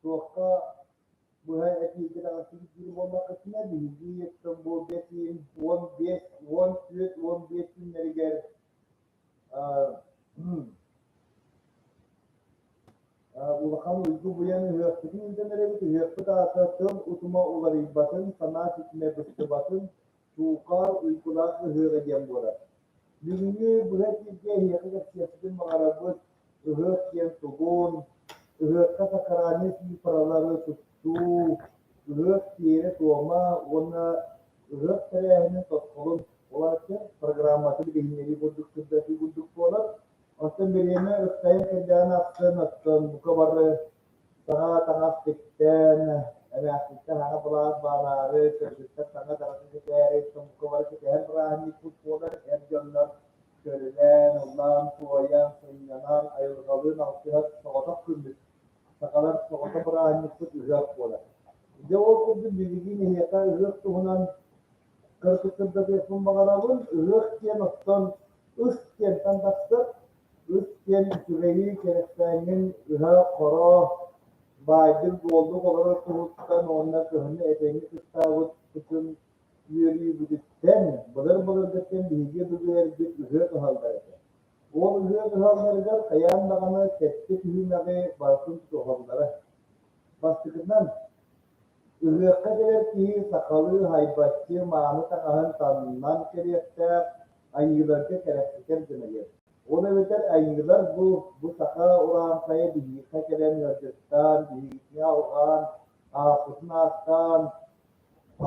туохха быһа этиигэ даҕатыгдыыр буоллаххытына биһиги Стамбулгэтиин уон биэс уон түөрт уон биэс күннэригэр улахан уйгу буйан ыһыахпытын ирдэнэрэбит ыһыахпыт аата тыл утума уларыйбатын санаа ситимэ быстыбатын Туука уйгулаах ыһыаҕа диэн буолар. Бүгүҥҥү быһа бииргэ эһиэхэ кэпсиэхпитин баҕарарбыт ыһыах диэн тугун, ыһыахха сакральнай цифралары туттуу, ыһыах тиэрэ-туома уонна ыһыах тэрээһинин тосхолун, улаатар программатын билиһиннэрии курдук сырдатыы курдук буолар. Оттон бириэмэ ыксайан кэлдэҕинэ ахсын, оттон бука бары Саҥа таҥас тиктээн, эмээхситтэн аҕа былаас баараары, кыргыттар саҥа таҥасы ситээри, сумкалары ситиһэр бырааһынньыкпыт буолар, эр дьоннор көрүлээн, ыллаан, туойан, сынньанан, айылҕалыын алтыһар соҕотох күммүт, сахалар соҕото бырааһынньыкпыт ыһыах буолар. Дьэ ол курдук билигин эһиэхэ ыһыах туһунан кыргыттардатыахпын баҕарабын. Ыһыах диэн оттон ыс диэнтэн тахсар. Ыт диэн сүрэйин кэрэспээнин ыһа-хороо, баайдык буолук олорор туһуттан уонна кыһыны этэҥҥэ кыстаабыт кутун үөрүүбүтүттэн былыр-былыр да диэн биһиги былыргы ыһыат уһаллар этэ. Ол ыһыат уһалларыгар хайаан даҕаны сэттэ түһүмэҕи барытын тутуһаллара. Бастакытынан, ыһыахха кэлэр киһи сахалыы хайбаччы мааны таҥаһын таҥнан кэлиэхтээх, Айыыларга кэрэхситэр гыныйыҥ. Ол эбэтэр айыылар бу бу саха урааҥхайа биһиэхэ кэлэн ыалдьыттаан, биһигитини алҕаан, ааппытын ааттаан,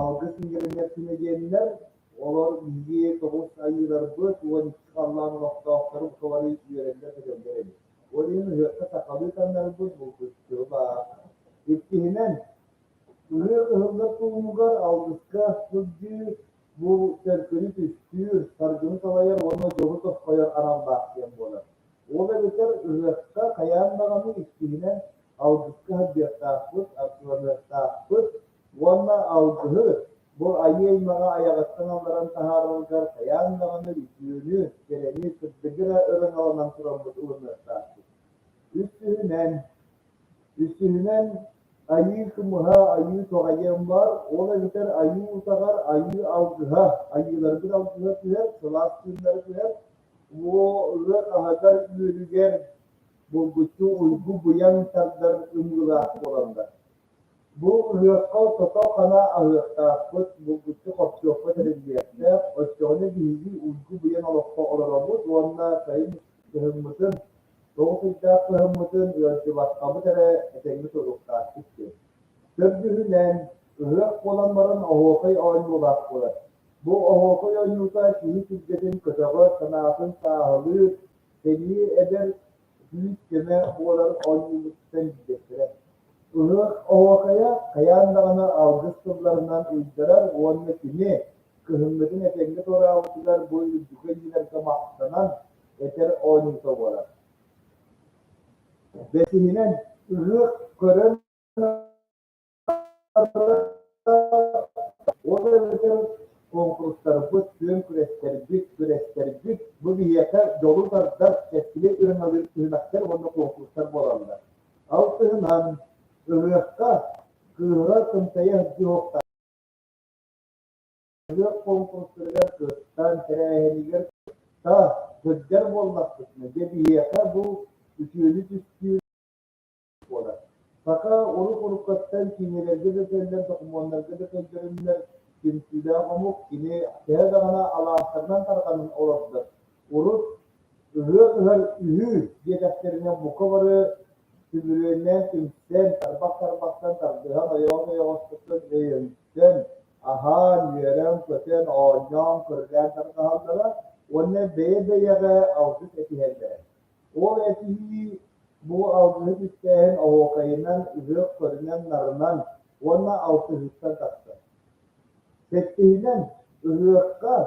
алгыс иҥэринэр күнэдиэннэр, олор биһиги тоҕус айыыларбыт уон икки халлаан олохтоохторун кылары үөрэллэр-көтөллөр эбит. Ол иһин ыһыахха сахалыы таҥнарбыт булгуччу баар. Иккиһинэн, ыһыах ыһыллар туһугар алгыска сылдьыы Бу төлкүнү түстүүр, саргыны салайар уонна дьону тосхойор аналлаах диэн буолар. Ол эбэтэр ырыаска хайаан даҕаны иккиһинэн алгыска саддыахтаахпыт, артыаныахтаахпыт уонна алгыһы бу айыы аймаҕа айаҕыттан алларан таһаарарыгар хайаан даҕаны үтүөнү, кэрэни, кырдыгы эрэ ырыҥаланан турарбыт ылыныахтаахпыт. Үстүһүнэн, үстүһүнэн Айыы кымыһа, айыы тоҕайыан баар, ол эбэтэр айыы утаҕар айыы алгыһа, айыыларбыт алгыһа түһэр, сылаас тыыннары түһэр, уо ыар аһыгар үөлүгэр булгуччу уйгу буйан тардар ымгылаах буолаллар. Бу ыһыахха тото-хана аһыахтаахпыт, булгуччу хопчуохпут эриллиэхтээх, оччоҕуна биһиги уйгу буйан олоххо олоробут уонна сайын кыһыммытын Тоҕо кыйдаах кыһыммытын ыалдьыбаттамыт эрэ этэҥҥит уруктаахтык диэн. Көрдүһүнэн, ыһыах буолан баран оһуокай оонньуулаах буолар. Бу оһуокай оонньуута киһи түргэтин көтөҕөр, санаатын сааһылыыр, сэниэ эдэр, күүс-көмө буолар оонньуулуттан билбэттэрэ. Ыһыах оһуокайа хайаан даҕаны алгыс тылларынан ыйдарар уонна кини кыһыммытын этэҥҥэ туораабытыгар бу үрдүкү иннилэргэ махтанан, этэр оонньуута буолар. Бэсиһинэн ыһыах көрөн ол эбэтэр куонкурустарбыт, күөн күрэстэрбит, күрэстэрбит бу биһиэхэ дьолу тардар, чэскили ырыҥалыыр түһүмэхтэр уонна куонкурустар буолаллар. Алтыһынан ыһыахха кыыһа тымтайа сылдьыһыахтаах Өлүөх куонкурустарыгар кыттан, тэрээһинигэр кытта сылдьар буоллахпытына, дьэ биһиэхэ бу үтүөнү түстүүр буолар. Саха урут уруккаттан киинэлэргэ да төллөр, докумуоннарга да төлдөрүннэр, түмсүүлээх омук кини төһө даҕаны алаастарынан тарҕанан олордор, урут ыһыах ыһар үһүү диэтэхтэринэ бука бары сүмүрүөннээн түмсэн, тарбах-тарбахтан, тардыһан, ойоҕос-ойоҕостортон өйөнсөн, аһаан, үөрэн-көтөн, оонньоон, көрдөөн тарҕаһаллара уонна бэйэ-бэйэҕэ алгыс этиһэллэрэ. Ол этиһии бу алгыһы түстээһин оһуокайынан, ыһыах көрүнэн-нарынан уонна алтыһыыттан тахсар. Сэттиһинэн, ыһыахха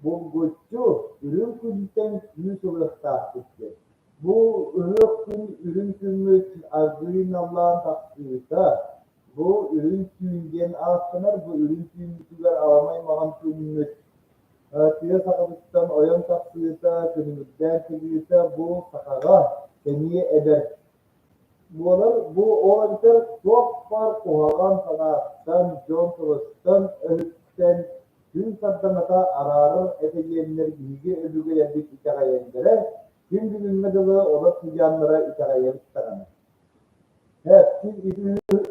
булгуччу үрүҥ күнтэн күүс ылыахтаахпыт диэн. Бу ыһыах күн үрүҥ күммүт аргыый наллаан тахсыыта Бу Үрүҥ түүн диэн ааттанар бу үрүҥ түүммүтүгэр аламай маҕан күммүт тыа сахабыттан ойон тахсыыта, күнүмүрдээн кэлиитэ бу сахаҕа сэниэ эдэр буолар. Бу ол эбэтэр туох-бар куһаҕан санааттан, дьон тылыттан өһүттэн күн сардаҥата араарар этигиэннэр биһиги өбүгэлэрбит итэҕэйэллэрэ, күн бүгүҥҥэ дылы олор сыдьааннара итэҕэйэбит даҕаны. Дьэ,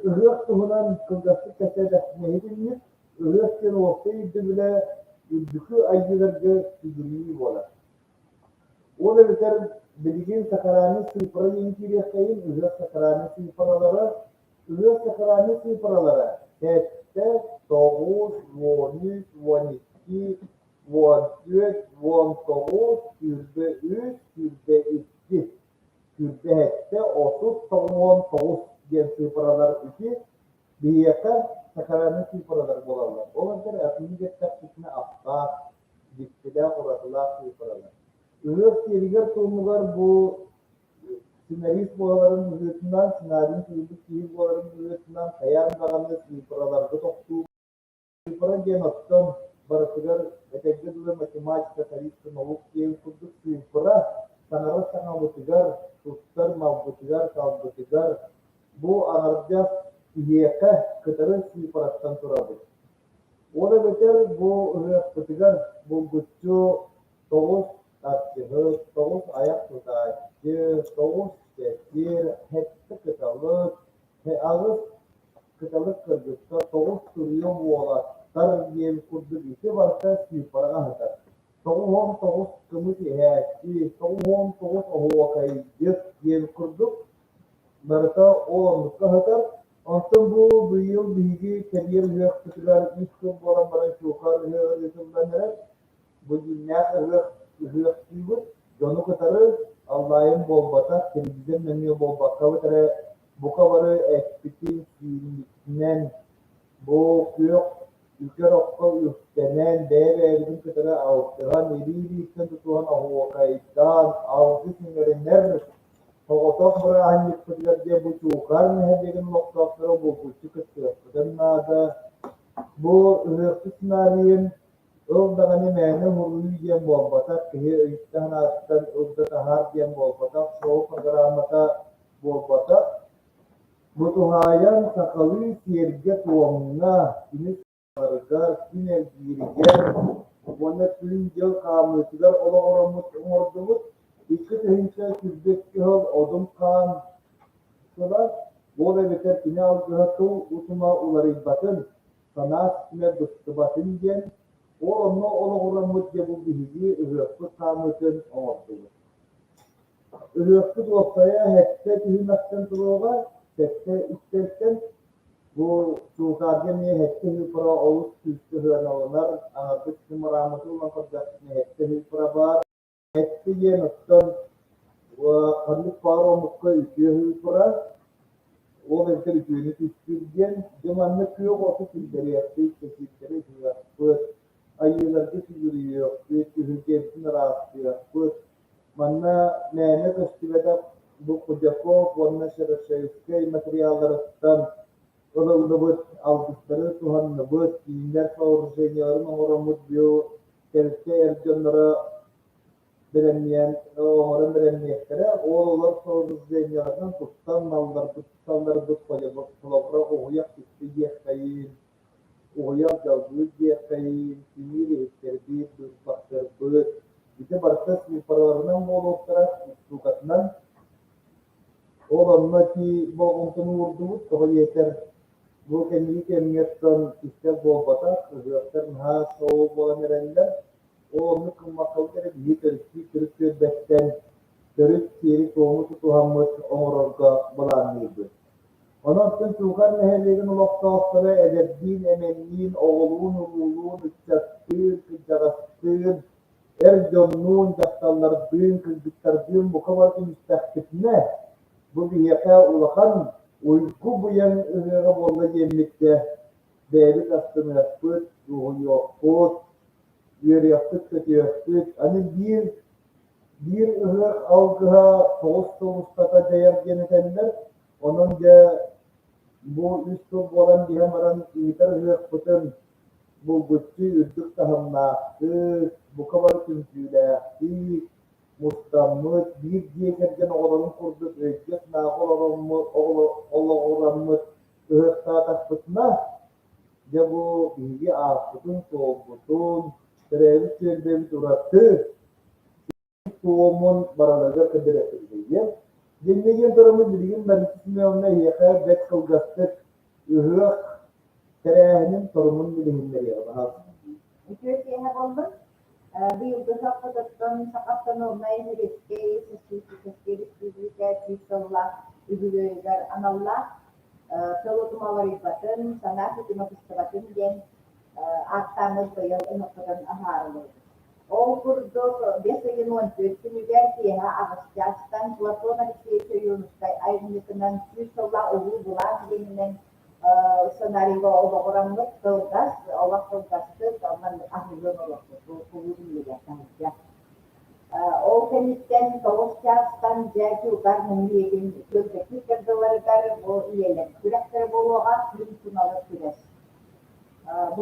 ыһыах туһунан кылгастык кэпсээтэх нэһилинньик ыһыах диэн уопсай ирдэбилэ үрдүкү айыыларга сүгүрүйүү буолар. Ол эбэтэр билигин сакарааны сыыппараны интириэххэйин ыһыах сакарааны сыыппаралара ыһыах сакарааны сыыппаралара сэттэ, тоҕус, уон үс, уон икки, уон түөрт, уон тоҕус, сүүрбэ үс, сүүрбэ икки Сүүрбэһиккэ отут тоҕуон тоҕус диэн цифралар үти, биһиэхэ сакральнай цифралар буолаллар. Ол эргэр атыыны эттэхпитинэ аптаах, дьиктилээх, уратылаах цифралар. Ыһыах сиэригэр-туомугар бу сценарист буоларын быһыытынан, сценарийин тыылбыт киһи буоларын быһыытынан хайаан даҕаны цифраларга тохтуу Куорат диэн оттон барытыгар эдэргэ дылы математика, тарихка, наук диэн курдук цифра саҥара саҥабытыгар, тустар малбытыгар, талбытыгар бу аҥардас киһиэхэ кытары цифраттан турабыт. Ол эбэтэр бу ырыахпытыгар булгуччу тоҕус арчыһыт, тоҕус айах тутааччы, тоҕус сэтир, сэттэ кыталык, Алыс кыталык кыргыттар тоҕус туруйа буолатар диэн курдук ити барыта Степаҕа аһатар. Тоҕус уон тоҕус кымыс иһээччи, тоҕус уон тоҕус оһуокайдьыт диэн курдук барыта ол оннукка аһатар. Онтон бу быйыл биһиги кэриэр ыһыахпытыгар ис тыл буолан баран чуукаар ыһыаҕар ыытыллан эрэр. Бу дьиҥнээх ыһыах ыһыахтыыбыт, дьону кытары аллаайым буолбата, телевизор нөҥүө буолбаккабыт эрэ, бука бары эппитин сүүрүүтүнэн, бу күөх үкэр окко үктэнэн, бэйэ-бэйэбитин кытары алтыһан, илии-илииттэн тутуһан оһуокайдаан, алгыс иҥэринэр соҕотох бырааһынньыкпытыгар диэн бу Чуукаар нэһилиэгин олохтоохторо булгуччу кыттыахпытын наада. Бу ыһыахтык сценарийын Ол даҕаны мээнэ уһуруйуу диэн буолбатах, киһи өйүттэн-санаатыттан ылда таһаар диэн буолбатах, шоу программата буолбатах. Бу туһаайан сахалыы сиэргэ-туомҥа, күнү сарыгар, күн эргииригэр уонна күн-дьыл хаамыытыгар олоҕуруммут оҥордубут. Икки тыһыынча сүүрбэс сыл одун хаан сыла, ол эбэтэр кини алгыһа тыл утума уларыйбатын, санаас түмэр быстыбатын диэн, ол онно олоҕураммыт дьэ бу биһиги ыһыахпыт хаамыытын оҥордубут. Ыһыахпыт уопсайа сэттэ түһүмэхтэн туруоҕа, сэттэ үстэлтэн бу Султаарга эмиэ сэттэ ыһыппара олус күүскэ сыһыаналанар, аҥардас ньымарааммыты ылан көрдөхпүтүнэ сэттэ ыһыппара баар. Эппи диэн оттон ханнык баар омукка үтүө турар, ол эбэтэр үтүөнү түстүүр диэн, дьэ манна күөх оту киллэриэхпит, кэсиирдэри ыһыахпыт, айыыларга сүгүрүйүөхпүт, күһүргэбитин ыраастыахпыт. Манна мээнэ көстүбэтэх бу Кудяков уонна Шерошевскай материалларыттан ылыллыбыт, алгыстары туһанныбыт, үүнэр сооружениеларын оҥороммут биотелкэ эр дьонноро бэлэмниэн, оҥорон бэлэмниэхтэрэ. Олор сооружениеларынан туттан малларбыт, салларбыт холобура уһуйах тикти диэххэйин, уһуйах дьалбыыт диэххэйин, тимир иһиттэрбит, быыспахтарбыт, ити барыта цифраларынан буолуохтара, устуукатынан Ол онно тии болҕомтону уурдубут, тоҕо диэтэр, бу кэнники кэмҥэттэн истэр буолбатах, ыһыахтар наһаа шоу буолан эрэллэр. Ол оннук гыммаккалга эрэ биһи төрүттүү төрүт түөлбэттэн төрүт сиэри-туому тутуһаммыт оҥорорго былаанныырбыт. Онон Чуукар нэһилиэгин олохтоохторо эдэрдиин, эмэнниин, оҕолуун, улуулуун, ыччаттыын, кырдьаҕастыын Эр дьоннуун, дьахталлардыын, кыргыттардыын бука бары түмүстэхпитинэ, бу биһиэхэ улахан уйгу быйаҥ ырыаҕа буолла диэммиккэ, бэйэбит астыныахпыт, дуоһуйуохпут, үөрүөхпүт-көтүөхпүт, аны биир биир ыһыах алгыһа тоҕус сыл устата дьайар диэн этэллэр. Онон дьэ бу үс сыл буолан иһэн баран ыытар ыһыахпытын булгуччу үрдүк таһымнаахтык, бука бары түмсүүлээхтик мустаммыт, биир дьиэ кэргэн оҕолорун курдук өйгө-санааҕа олороммут, олоҕураммыт ыһыахтаатахпытына, дьэ бу биһиги ааспытын-суолбутун, төрөөбүт түөлбэбит ураты туомун бараныга кэдирэхилигиэн Диннигин турумут билигин Мариса Семеновна эһиэхэ бэрт кылгастык ыһыах тэрээһинин торумун билиһиннэриэҕэ баһаалыстыы. Үтүө киэһэ буоллун. Быйылгы саппатыттан Сахавтономнай Сэбиэскэй Социалистическай Республика сүүс сыллаах үбүлүөйүгэр аналлаах Сылу тумаларыйбатын, санаа тутуматыстыбатын диэн ааттааммыт быйыл ынахпытын аһаарыллыбыт. Ол курдук, бэс ыйын уон түөрт күнүгэр киэһэ аҕыс чаастан Платон Алексеевич Ойуунускай айымньытынан сүүс сыллаах улуу былаан иэнинэн сценарийга олоҕураммыт кылгас, олох кылгастык, онон аһыллыан олохпут кулууп иннигэр таһырдьа. Ол кэнниттэн тоҕус чаастан дьэ Кылгар муҥуриэтин күөлбэкит дыларыгар бу үйэлэр күрэхтэрэ буолуоҕа, күн туналы күрэс. Бу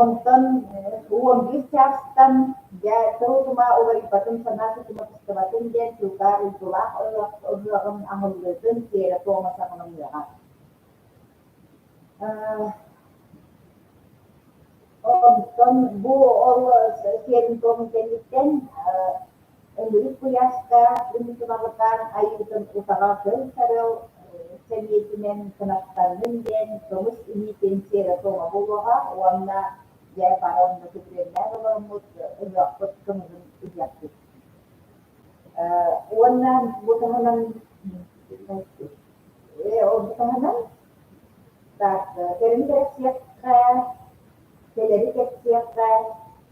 Онтон уон биир чаастан дьэ тыл-тума уларыйбатын, санаа тутуматыстыбатын диэн чугас уйгулаах ыһыаҕын аһыллыытын тиэрэ-туома саҕаланыаҕа. Онтон бу ол сиэрин-туому кэнниттэн Өлүрүк куйааска ыытылалытаан айыытын утаҕа көл-сарыал сэбиэтинэн кынаттанным диэн көмүс илиитин сиэрэтэ оҥоһулуоҕа уонна дьэ бары онно күтүөннээн олороммут өлүөхпут кымыһын ыйаппыт уонна бу таһынан ол таһынан так кэлими кэрэхсиэххэ кэлэри кэпсиэххэ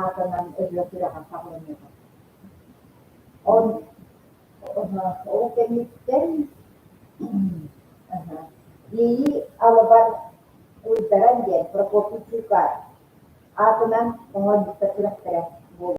аатынан өбүгэ күрэҕин таһаарыыта. Он ол кэнниттэн Ии Алабар Уйдаран диэн Прокопий Чуукаар аатынан оҥорбуттар күрэхтэрэ буолла.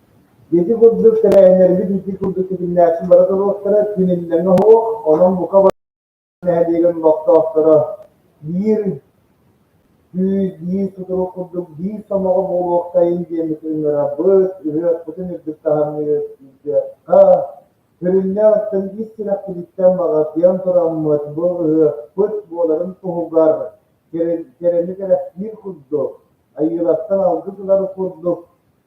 Ити курдук тэрээһиннэрбит ити курдук ситимнээхтик бара туруохтара, күн иллэҥэ оһуох, онон бука бары нэһилиэгин олохтоохторо биир күүс, биир сотору курдук биир сомоҕо буолуохтайын диэн ытыҥырабыт, ыһыахпытын үрдүк таһымныыр ыйдыахха. Көрүннэ оттон ис сүрэхпититтэн баҕатыйан тураммыт бу ыһыахпыт буоларын туһугар кэрэни кэрэхсиир курдук, Айыылартан алгыс ылар курдук